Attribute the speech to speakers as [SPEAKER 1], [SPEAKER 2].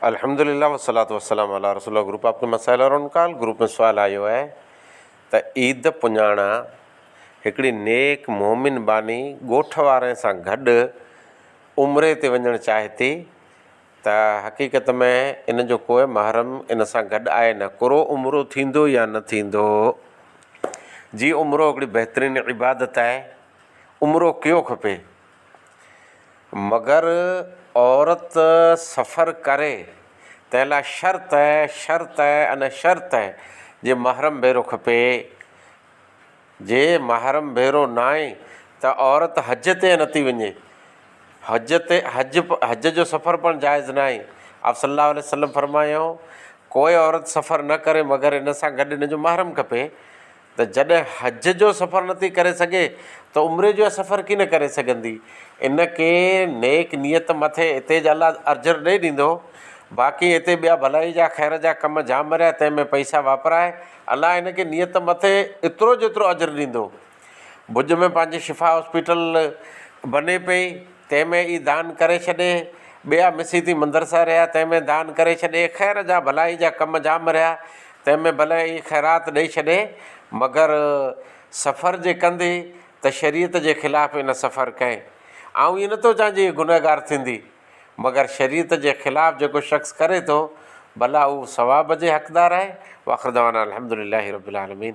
[SPEAKER 1] الحمد للہ والصلوۃ والسلام علی رسول اللہ گروپ آپ کے مسائل اور ان کال گروپ ۾ سوال آيو آهي ته عيد پڃاڻا هڪڙي نيڪ مومن ٻانهي ڳوٺ وارن سان گڏ عمري تي وڃڻ چاهي ٿي ته حقيقت ۾ ان جو ڪوئي محرم ان سان گڏ آهي نه ڪرو عمرو ٿيندو يا نه ٿيندو جي عمرو هڪڙي بهترين عبادت آهي عمرو ڪيو کپي مگر عورت سفر ڪري تنهن لاء شرط شرط ان شرط جي محرم ڀيرو کپي. جي محرم ڀيرو ناهي ته عورت حج تي نٿي وڃي. حج تي حج حج جو سفر پڻ جائز ناهي. آپ صلّي اللّٰه عليه وسلّم فرمايائون، ڪوئي عورت سفر نه ڪري مگر ان سان گڏ ان جو محرم کپي. ته جڏهن حج جو سفر نٿي ڪري سگهي ته عمري جو سفر ڪيئن ڪري سگهندي؟ ان ڪي نيڪ نيت مٿي اتي جا الله اجر ڏئي ڏيندو، باقي اتي ٻيا ڀلائي جا خير جا ڪم جام مريا تنهن ۾ پئسا واپرائي الله ان کي نيت مٿي اترو جيترو اجر ڏيندو. ڀڄ ۾ پنهنجي شفا هاسپيٽل بني پئي تنهن ۾ ئي دان ڪري ڇڏي، ٻيا مسيتي مندرسا رهيا تنهن ۾ دان ڪري ڇڏي، خير جا ڀلائي جا ڪم جام مريا تنهن ۾ ڀلي اهي خيرات ڏئي ڇڏي مگر سفر جي ڪندي ته شريعت جي خلاف ئي نه سفر ڪئي. آئون ائين نٿو چوان جو هي گنهگار ٿيندي مگر شريعت جي خلاف جيڪو شخص ڪري ٿو ڀلا اهو ثواب جي حقدار آهي؟ واخر دعوانا الحمد لله رب العالمين.